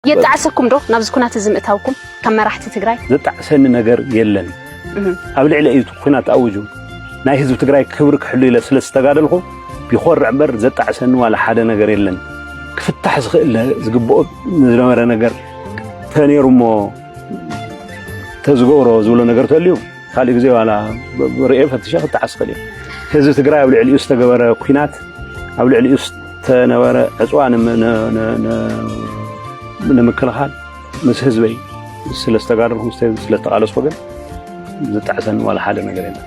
የጣዕሰኩም ዶ ናብዚ ኩናት እዚ ምእታውኩም ከም መራሕቲ ትግራይ? ዘጣዕሰኒ ነገር የለን። ኣብ ልዕሊ እዩ ኩናት ኣውጁ ናይ ህዝቢ ትግራይ ክብሪ ክሕሉ ኢለ ስለ ዝተጋደልኩ ይኾርዕ እምበር ዘጣዕሰኒ ዋላ ሓደ ነገር የለን። ክፍታሕ ዝኽእል ዝግብኦ ዝነበረ ነገር ተነይሩ እሞ ተዝገብሮ ዝብሎ ነገር ተልዩ ካልእ ግዜ ዋላ ርእየ ፈትሸ ክጠዓስ ይኽእል እዩ። ህዝቢ ትግራይ ኣብ ልዕሊኡ ዝተገበረ ኩናት ኣብ ልዕሊኡ ዝተነበረ ዕፅዋ ንምክልኻል ምስ ህዝበይ ስለ ዝተጋደልኩ ምስ ህዝቢ ስለ ዝተቓለስኩ ግን ዝጣዕሰኒ ዋላ ሓደ ነገር የለን።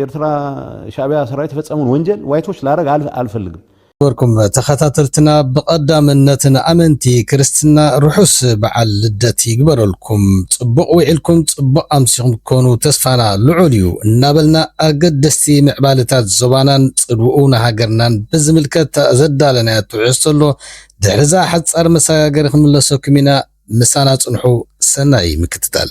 ኤርትራ ሻእቢያ ሰራዊት የፈጸመውን ወንጀል ዋይቶች ላረግ ኣል ኣልፈልግም። ነበርኩም ተኸታተልትና ብቐዳምነት ንኣመንቲ ክርስትና ርሑስ በዓል ልደት ይግበረልኩም ጽቡቕ ዊዒልኩም ጽቡቕ ኣምሲኹም ክትኮኑ ተስፋና ልዑል እዩ እናበልና ኣገደስቲ ምዕባለታት ዞባናን ጽልውኡ ንሃገርናን ብዝምልከት ዘዳለናዮ ትሕዝቶ ኣሎ ድሕሪዛ ሓጻር መሰጋገሪ ክንምለሰኩም ኢና ምሳና ጽንሑ ሰናይ ምክትታል።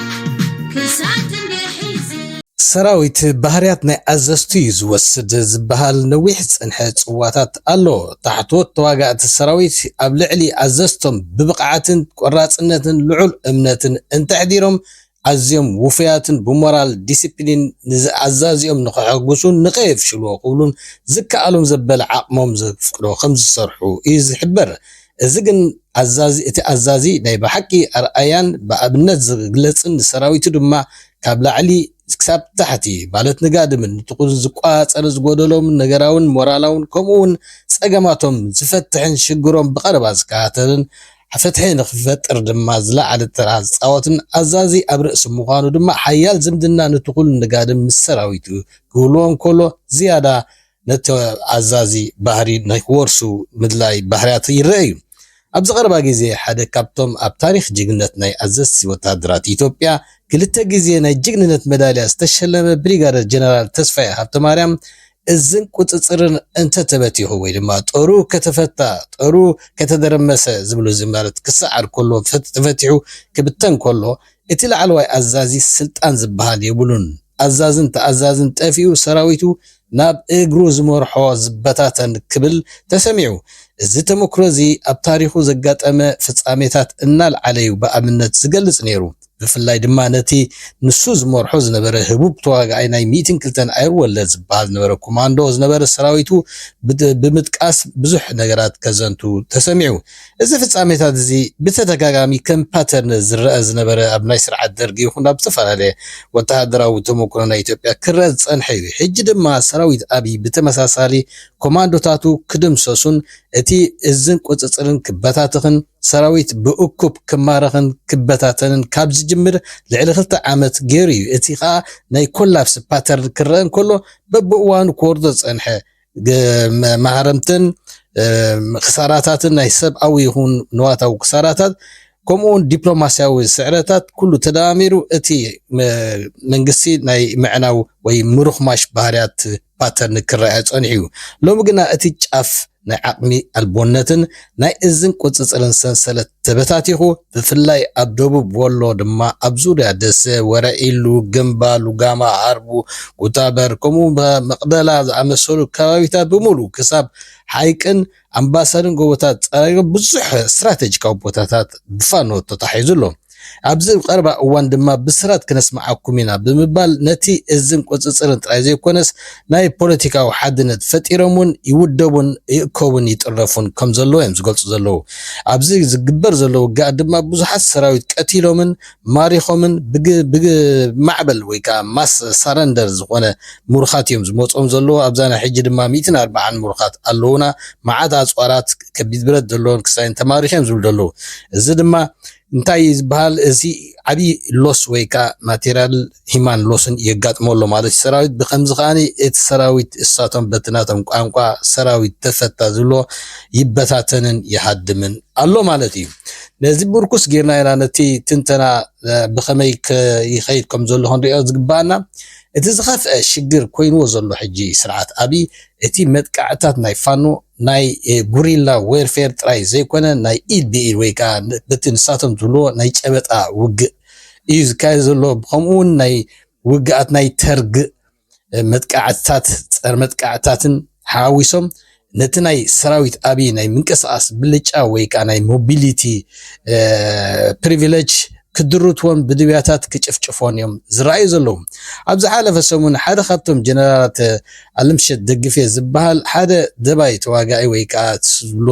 ሰራዊት ባህርያት ናይ ኣዘዝቱ እዩ ዝወስድ ዝበሃል ነዊሕ ዝፀንሐ ፅዋታት ኣሎ። ታሕተዎት ተዋጋእቲ ሰራዊት ኣብ ልዕሊ ኣዘዝቶም ብብቕዓትን ቆራፅነትን ልዑል እምነትን እንተሕዲሮም ኣዝዮም ውፉያትን ብሞራል ዲሲፕሊን ንዝኣዛዚኦም ንኸሐጉሱን ንኸየፍሽልዎ ክብሉን ዝከኣሎም ዘበለ ዓቕሞም ዘፍቅዶ ከምዝሰርሑ እዩ ዝሕበር። እዚ ግን ኣዛዚ እቲ ኣዛዚ ናይ ብሓቂ ኣርኣያን ብኣብነት ዝግለጽን ንሰራዊቱ ድማ ካብ ላዕሊ ክሳብ ታሕቲ ማለት ንጋድምን ንጥቁን ዝቆጻጸር ዝጎደሎምን ነገራውን ሞራላውን ከምኡ ውን ጸገማቶም ዝፈትሕን ሽግሮም ብቀረባ ዝከታተልን ፍትሒ ንክፈጥር ድማ ዝለዓለ ተራ ዝጻወትን ኣዛዚ ኣብ ርእሲ ምዃኑ ድማ ሓያል ዝምድና ንጥቁን ንጋድም ምስ ሰራዊቱ ክህልዎ እንከሎ ዝያዳ ነቲ ኣዛዚ ባህሪ ናይ ክወርሱ ምድላይ ባህርያት ይረኣ እዩ። ኣብዚ ቀረባ ግዜ ሓደ ካብቶም ኣብ ታሪኽ ጅግንነት ናይ ኣዘዝቲ ወተሃደራት ኢትዮጵያ ክልተ ግዜ ናይ ጅግንነት መዳልያ ዝተሸለመ ብሪጋደር ጀነራል ተስፋዬ ሃብተማርያም እዝን ቁጽጽርን እንተተበቲኹ ወይ ድማ ጦሩ ከተፈታ ጦሩ ከተደረመሰ ዝብሉ ዝማረት ክሰዓር ከሎ ተፈቲሑ ክብተን ከሎ እቲ ላዕለዋይ ኣዛዚ ስልጣን ዝበሃል የብሉን። ኣዛዝን ተኣዛዝን ጠፊኡ ሰራዊቱ ናብ እግሩ ዝመርሖ ዝበታተን ክብል ተሰሚዑ። እዚ ተመክሮ እዚ ኣብ ታሪኹ ዘጋጠመ ፍጻሜታት እናልዓለ'ዩ ብኣብነት ዝገልጽ ነይሩ። ብፍላይ ድማ ነቲ ንሱ ዝመርሖ ዝነበረ ህቡብ ተዋጋኣይ ናይ ሚእትን ክልተን ኣየር ወለድ ዝበሃል ዝነበረ ኮማንዶ ዝነበረ ሰራዊቱ ብምጥቃስ ብዙሕ ነገራት ከዘንቱ ተሰሚዑ። እዚ ፍጻሜታት እዚ ብተደጋጋሚ ከም ፓተርን ዝረኣ ዝነበረ ኣብ ናይ ስርዓት ደርጊ ይኹን ኣብ ዝተፈላለየ ወተሃደራዊ ተመኩሮ ናይ ኢትዮጵያ ክረኣ ዝጸንሐ እዩ። ሕጂ ድማ ሰራዊት ኣብይ ብተመሳሳሊ ኮማንዶታቱ ክድምሰሱን እቲ እዝን ቁጽጽርን ክበታተኽን ሰራዊት ብእኩብ ክማረኽን ክበታተንን ካብ ዝጅምር ልዕሊ ክልተ ዓመት ገይሩ እዩ። እቲ ከኣ ናይ ኮላፕስ ፓተርን ክረኣ እንከሎ በብእዋኑ ክወርዶ ዝጸንሐ መሃረምትን ክሳራታትን ናይ ሰብኣዊ ይኹን ንዋታዊ ክሳራታት ከምኡውን ዲፕሎማስያዊ ስዕረታት ኩሉ ተደማሚሩ እቲ መንግስቲ ናይ ምዕናው ወይ ምሩኽማሽ ባህርያት ፓተርን ክረኣዮ ጸኒሑ እዩ። ሎሚ ግና እቲ ጫፍ ናይ ዓቕሚ ኣልቦነትን ናይ እዝን ቁጽጽርን ሰንሰለት ተበታቲኹ ብፍላይ ኣብ ደቡብ ወሎ ድማ ኣብ ዙርያ ደሰ፣ ወረኢሉ፣ ግምባ፣ ሉጋማ፣ ሃርቡ፣ ኩታበር ከምኡ መቅደላ ዝኣመሰሉ ከባቢታት ብምሉኡ ክሳብ ሓይቅን ኣምባሰልን ጎቦታት ጸራይሮ ብዙሕ ስትራተጂካዊ ቦታታት ብፋኖ ተታሒዙ ኣሎ። ኣብዚ ቀረባ እዋን ድማ ብስራት ክነስምዓኩም ኢና ብምባል ነቲ እዝን ቁጽጽርን ጥራይ ዘይኮነስ ናይ ፖለቲካዊ ሓድነት ፈጢሮም እውን ይውደቡን ይእከቡን ይጥረፉን ከም ዘለዉ እዮም ዝገልጹ ዘለዉ። ኣብዚ ዝግበር ዘሎ ውግኣት ድማ ብዙሓት ሰራዊት ቀቲሎምን ማሪኾምን ብማዕበል ወይ ከኣ ማስ ሳረንደር ዝኾነ ምሩኻት እዮም ዝመጽኦም ዘለዉ። ኣብዛ ናይ ሕጂ ድማ ሚእትን ኣርባዓን ምሩኻት ኣለዉና፣ መዓት ኣጽዋራት፣ ከቢድ ብረት ዘለዎም ክሳይን ተማሪኹ እዮም ዝብሉ ዘለዉ። እዚ ድማ እንታይ እዩ ዝበሃል እዚ ዓብዪ ሎስ ወይ ከዓ ማቴርያል ሂማን ሎስን የጋጥሞ ኣሎ ማለት እዩ ሰራዊት ብከምዚ ከዓ እቲ ሰራዊት እሳቶም በቲ ናቶም ቋንቋ ሰራዊት ተፈታ ዝብሎ ይበታተንን ይሃድምን ኣሎ ማለት እዩ ነዚ ምርኩስ ጌርና ኢና ነቲ ትንተና ብከመይ ይኸይድ ከም ዘሎ ክንሪኦ ዝግባኣና እቲ ዝኸፍአ ሽግር ኮይንዎ ዘሎ ሕጂ ስርዓት ኣብይ እቲ መጥቃዕትታት ናይ ፋኖ ናይ ጉሪላ ዌርፌር ጥራይ ዘይኮነ ናይ ኢድ ብኢድ ወይ ከኣ በቲ ንሳቶም ዝብልዎ ናይ ጨበጣ ውግእ እዩ ዝካየድ ዘሎ ብከምኡ እውን ናይ ውግኣት ናይ ተርግ መጥቃዕትታት ፀረ መጥቃዕትታትን ሓዊሶም ነቲ ናይ ሰራዊት ኣብይ ናይ ምንቅስቃስ ብልጫ ወይ ከኣ ናይ ሞቢሊቲ ፕሪቪለጅ ክድርትዎን ብድብያታት ክጭፍጭፎን እዮም ዝረኣዩ ዘለዉ። ኣብ ዝሓለፈ ሰሙን ሓደ ካብቶም ጀነራላት ኣለምሸት ደግፌ ዝብሃል ሓደ ደባይ ተዋጋኢ ወይ ከኣ ትብሎ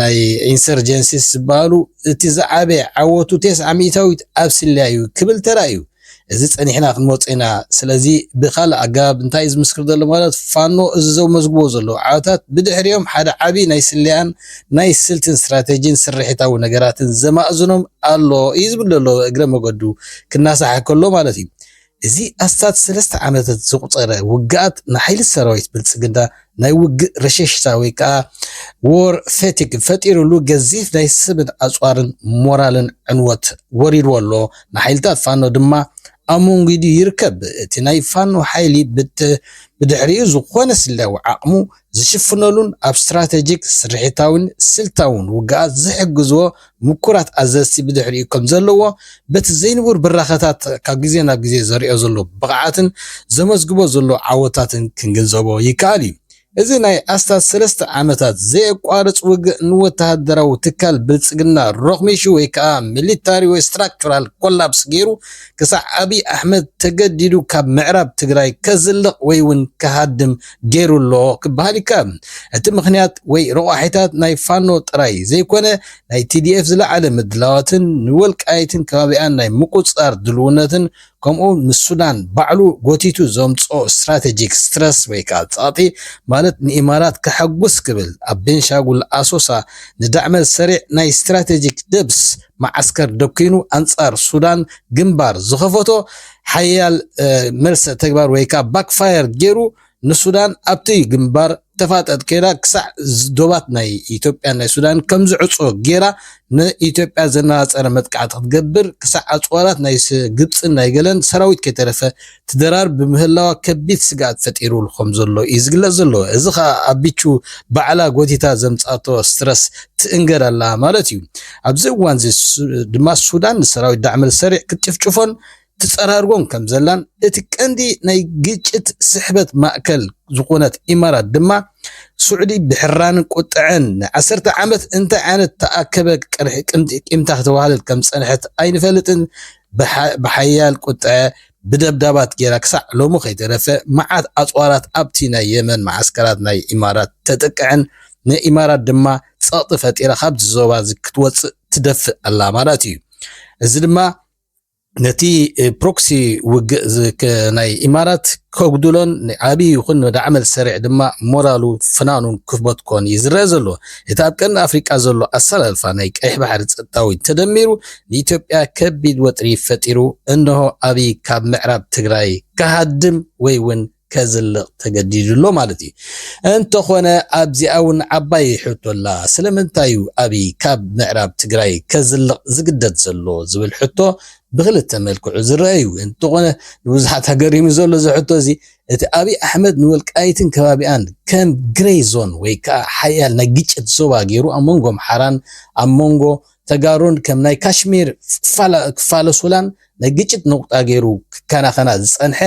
ናይ ኢንሰርጀንሲስ ዝብሃሉ እቲ ዝዓበየ ዓወቱ ቴስዓ ሚእታዊት ኣብ ስለያ እዩ ክብል ተራእዩ። እዚ ጸኒሕና ክንመርጾ ኢና። ስለዚ ብኻልእ ኣገባብ እንታይ እዩ ዝምስክር ዘሎ ማለት ፋኖ እዚ ዘመዝግቦ ዘሎ ዓወታት ብድሕሪኦም ሓደ ዓቢ ናይ ስለያን ናይ ስልትን ስትራተጂን ስርሒታዊ ነገራትን ዘማእዝኖም ኣሎ እዩ ዝብል ዘሎ እግረ መገዱ ክናሳሕ ከሎ ማለት እዩ። እዚ ኣስታት ሰለስተ ዓመታት ዘቑፀረ ውግኣት ንሓይልት ሰራዊት ብልፅግና ናይ ውግእ ረሸሽታ ወይ ከዓ War Fatigue ፈጢሩሉ ገዚፍ ናይ ሰብን ኣፅዋርን ሞራልን ዕንወት ወሪድዎ ኣሎ። ንሓይልታት ፋኖ ድማ ኣሞንጊዱ ይርከብ። እቲ ናይ ፋኖ ሓይሊ ብድሕሪኡ ዝኾነ ስለያዊ ዓቕሙ ዝሽፍነሉን ኣብ ስትራቴጂክ፣ ስርሒታዊን ስልታውን ውግኣት ዝሕግዝዎ ምኩራት ኣዘዝቲ ብድሕሪኡ ከም ዘለዎ፣ በቲ ዘይንቡር ብራኸታት ካብ ግዜ ናብ ግዜ ዘርእዮ ዘሎ ብቕዓትን ዘመዝግቦ ዘሎ ዓወታትን ክንግንዘቦ ይከኣል እዩ። እዚ ናይ ኣስታት ሰለስተ ዓመታት ዘየቋርጽ ውግእ ንወተሃደራዊ ትካል ብልጽግና ሮኽሚሹ ወይ ከኣ ሚሊታሪ ወይ ስትራክቹራል ኮላፕስ ገይሩ ክሳዕ ኣብይ ኣሕመድ ተገዲዱ ካብ ምዕራብ ትግራይ ከዝልቕ ወይ ውን ክሃድም ገይሩ ኣሎ ክበሃል ይከኣል። እቲ ምኽንያት ወይ ረቋሒታት ናይ ፋኖ ጥራይ ዘይኮነ ናይ tdf ዝለዓለ ምድላዋትን ንወልቃይትን ከባቢኣን ናይ ምቁጽጻር ድልውነትን ከምኡውን ምስ ሱዳን ባዕሉ ጎቲቱ ዘምጽኦ ስትራተጂክ ስትረስ ወይ ከኣ ጸቕጢ ማለት ንኢማራት ከሐጉስ ክብል ኣብ ቤንሻጉል ኣሶሳ ንዳዕመል ሰሪዕ ናይ ስትራተጂክ ደብስ መዓስከር ደኲኑ ኣንጻር ሱዳን ግንባር ዝኸፈቶ ሓያል መልሰ ተግባር ወይ ከኣ ባክ ፋየር ጌሩ ንሱዳን ኣብቲ ግንባር ተፋጠጥ ከይዳ ክሳዕ ዶባት ናይ ኢትዮጵያን ናይ ሱዳንን ከም ዝዕጾ ጌራ ንኢትዮጵያ ዘነጻጸረ መጥቃዕቲ ክትገብር ክሳዕ ኣጽዋራት ናይ ግብጽን ናይ ገለን ሰራዊት ከይተረፈ ትደራር ብምህላዋ ከቢድ ስግኣት ፈጢሩሉ ከምዘሎ እዩ ዝግለጽ ዘሎ። እዚ ከኣ ኣቢቹ ባዕላ ጎቲታ ዘምጽኣቶ ስትረስ ትእንገድ ኣላ ማለት እዩ። ኣብዚ እዋንዚ ድማ ሱዳን ንሰራዊት ዳዕመልሰሪዕ ክትጭፍጭፎን ትጸራርጎን ከምዘላን እቲ ቀንዲ ናይ ግጭት ስሕበት ማእከል ዝኾነት ኢማራት ድማ ሱዕዲ ብሕራንን ቁጠዐን ንዓሰርተ ዓመት እንታይ ዓይነት ተኣከበ ቂምታ ክተዋህልል ከምዝጸንሐት ኣይንፈልጥን ብሓያል ቁጠዐ ብደብዳባት ጌራ ክሳዕ ሎሚ ከይተረፈ መዓት ኣጽዋራት ኣብቲ ናይ የመን መዓስከራት ናይ ኢማራት ተጥቅዕን ንኢማራት ድማ ጸቕጢ ፈጢራ ካብዚ ዞባ እዚ ክትወጽእ ትደፍእ ኣላ ማለት እዩ። እዚ ድማ ነቲ ፕሮክሲ ውግእ ናይ ኢማራት ከጉድሎን ንዓብዪ ይኹን ንዳዕመል ሰሪዕ ድማ ሞራሉ ፍናኑን ክበትኮን እዩ ዝረአ ዘሎ። እቲ ኣብ ቀርኒ ኣፍሪቃ ዘሎ ኣሰላልፋ ናይ ቀይሕ ባሕሪ ጸጥታዊ ተደሚሩ ንኢትዮጵያ ከቢድ ወጥሪ ፈጢሩ እንሆ ኣብይ ካብ ምዕራብ ትግራይ ክሃድም ወይ ውን ከዝልቕ ተገዲዱ ኣሎ ማለት እዩ። እንተኾነ ኣብዚኣ ውን ዓባይ ሕቶ ኣላ። ስለምንታይ እዩ ኣብይ ካብ ምዕራብ ትግራይ ከዝልቕ ዝግደድ ዘሎ ዝብል ሕቶ ብኽልተ መልክዑ ዝረኣ እዩ። እንተኾነ ንብዙሓት ኣገሪሙ ዘሎ እዚ ሕቶ እዚ እቲ ኣብይ ኣሕመድ ንወልቃይትን ከባቢኣን ከም ግሬይ ዞን ወይ ከዓ ሓያል ናይ ግጭት ዞባ ገይሩ ኣብ መንጎ ኣምሓራን ኣብ መንጎ ተጋሩን ከም ናይ ካሽሚር ክፋለሱላን ናይ ግጭት ነቑጣ ገይሩ ክከናኸና ዝፀንሐ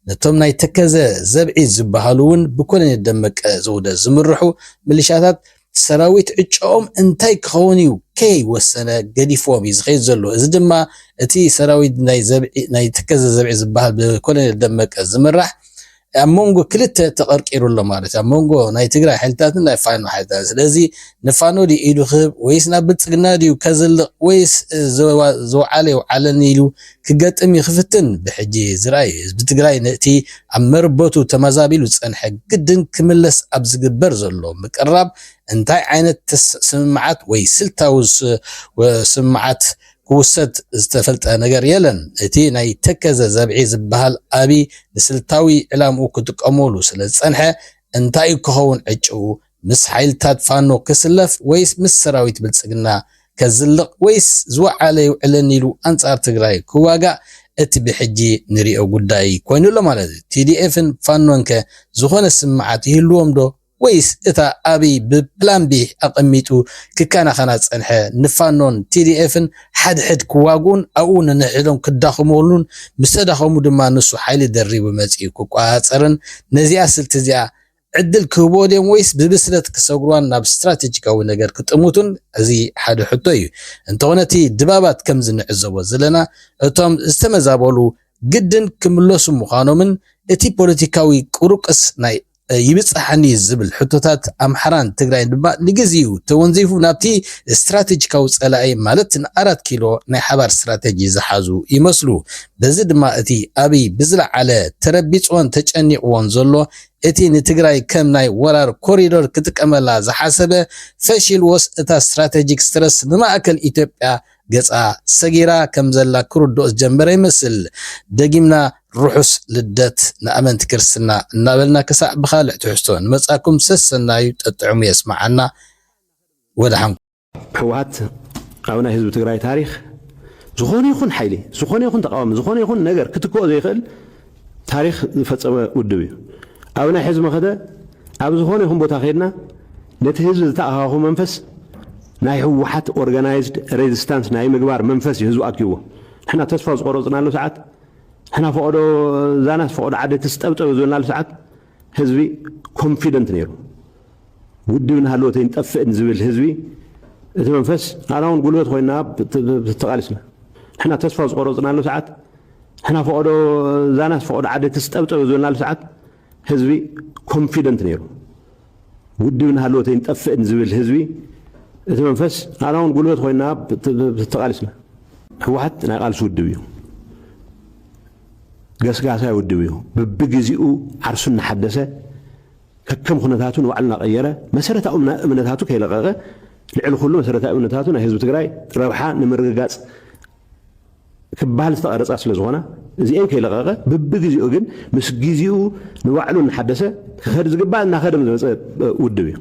ነቶም ናይ ተከዘ ዘብዒ ዝበሃሉ እውን ብኮሎኔል ደመቀ ዘውደ ዝምርሑ ምልሻታት ሰራዊት ዕጫኦም እንታይ ክኸውን እዩ ከይወሰነ ገዲፍዎም እዩ ዝኸይድ ዘሎ እዚ ድማ እቲ ሰራዊት ናይ ተከዘ ዘብዒ ዝበሃል ብኮሎኔል ደመቀ ዝምራሕ ኣብ መንጎ ክልተ ተቐርቂሩ ኣሎ ማለት እዩ። ኣብ መንጎ ናይ ትግራይ ሓይልታትን ናይ ፋኖ ሓይልታትን። ስለዚ ንፋኖ ድዩ ኢዱ ክህብ ወይስ ናብ ብልጽግና ድዩ ከዝልቕ ወይስ ዝወዓለ ይውዓለኒ ኢሉ ክገጥም እዩ ክፍትን ብሕጂ ዝርኣይ እዩ። ህዝቢ ትግራይ ነቲ ኣብ መርበቱ ተመዛቢሉ ዝጸንሐ ግድን ክምለስ ኣብ ዝግበር ዘሎ ምቅርራብ እንታይ ዓይነት ስምምዓት ወይ ስልታዊ ስምምዓት ክውሰድ ዝተፈልጠ ነገር የለን። እቲ ናይ ተከዘ ዘብዒ ዝበሃል ኣብይ ንስልታዊ ዕላምኡ ክጥቀመሉ ስለዝጸንሐ እንታይ'ዩ ክኸውን ዕጭኡ? ምስ ሓይልታት ፋኖ ክስለፍ ወይስ ምስ ሰራዊት ብልጽግና ከዝልቕ ወይስ ዝወዓለ የውዕለኒ ኢሉ ኣንጻር ትግራይ ክዋጋእ እቲ ብሕጂ ንሪኦ ጉዳይ ኮይኑ'ሎ ማለት'ዩ። TDF ን ፋኖን'ከ ዝኾነ ስምምዓት ይህልዎም'ዶ? ወይስ እታ ኣብይ ብ ፕላን ቢ ኣቐሚጡ ክከናኸና ዝጸንሐ ን ፋኖን ቲዲኤፍን ሓድሕድ ክዋግኡን ኣብኡ ነንሕድሕዶም ክዳኸሙሉን ምስ ተዳኸሙ ድማ ንሱ ሓይሊ ደሪቡ መጺኡ ክቆጻጸርን ነዚኣ ስልቲ እዚኣ ዕድል ክህብዎ ድዮም ወይስ ብብስለት ክሰግሩዋን ናብ ስትራተጂካዊ ነገር ክጥምቱን እዚ ሓደ ሕቶ እዩ እንተኾነ እቲ ድባባት ከምዚ ንዕዘቦ ዘለና እቶም ዝተመዛበሉ ግድን ክምለሱ ምዃኖምን እቲ ፖለቲካዊ ቁሩቅስ ናይ ይብጽሓኒ ዝብል ሕቶታት ኣምሓራን ትግራይን ድማ ንግዜኡ ተወንዚፉ ናብቲ ስትራቴጂካዊ ጸላኢ ማለት ንኣራት ኪሎ ናይ ሓባር ስትራቴጂ ዝሓዙ ይመስሉ። በዚ ድማ እቲ ኣብይ ብዝለዓለ ተረቢጽዎን ተጨኒቕዎን ዘሎ እቲ ንትግራይ ከም ናይ ወራር ኮሪዶር ክጥቀመላ ዝሓሰበ ፈሺልዎስ እታ ስትራቴጂክ ስትረስ ንማእከል ኢትዮጵያ ገጻ ሰጊራ ከም ዘላ ክርድኦ ዝጀመረ ይመስል። ደጊምና ርሑስ ልደት ንኣመንቲ ክርስትና እናበልና ክሳዕ ብኻልእ ትሕዝቶ ንመጻኩም ሰሰናዩ ጠጥዕሙ የስምዓና ወደሓን ኩኑ። ህወሓት ኣብ ናይ ህዝቢ ትግራይ ታሪኽ ዝኾነ ይኹን ሓይሊ፣ ዝኾነ ይኹን ተቓዋሚ፣ ዝኾነ ይኹን ነገር ክትክኦ ዘይኽእል ታሪኽ ዝፈጸመ ውድብ እዩ። ኣብ ናይ ሕዚ መኸተ ኣብ ዝኾነ ይኹን ቦታ ከይድና ነቲ ህዝቢ ዝተኣኻኹ መንፈስ ናይ ህወሓት ኦርጋናይዝድ ሬዚስታንስ ናይ ምግባር መንፈስ እዩ ህዝቢ ኣኪብዎ። ንሕና ተስፋ ዝቆረጽናሉ ሰዓት፣ ንሕና ፈቐዶ ዛናስ ፈቐዶ ዓዲ ትስጠብጠብ ዝበልናሉ ሰዓት፣ ህዝቢ ኮንፊደንት ነይሩ ውድብ ናሃለወት ኣይንጠፍእን ዝብል ህዝቢ እቲ መንፈስ ኣና እውን ጉልበት ኮይና ተቓሊስና ንሕና ተስፋ ዝቆረፅናሉ ሰዓት ንሕና ፈቐዶ ዛናስ ፈቐዶ ዓደ ትስጠብጠብ ዝበልናሉ ሰዓት ህዝቢ ኮንፊደንት ነይሩ ውድብ ናሃለወት ኣይንጠፍእን ዝብል ህዝቢ እቲ መንፈስ ኣና እውን ጉልበት ኮይና ተቓሊስና ህወሓት ናይ ቃልሲ ውድብ እዩ ገስጋሳይ ውድብ እዩ። ብብግዜኡ ዓርሱ እናሓደሰ፣ ከከም ኩነታቱ ንባዕሉ እናቐየረ፣ መሰረታዊ እምነታቱ ከይለቐቐ፣ ልዕሊ ኩሉ መሰረታዊ እምነታቱ ናይ ህዝቢ ትግራይ ረብሓ ንምርግጋፅ ክበሃል ዝተቐረፃ ስለዝኾና እዚኤን ከይለቐቐ ብብግዜኡ ግን ምስ ግዜኡ ንባዕሉ እናሓደሰ ክኸድ ዝግባእ እናኸደ ዝመፀ ውድብ እዩ።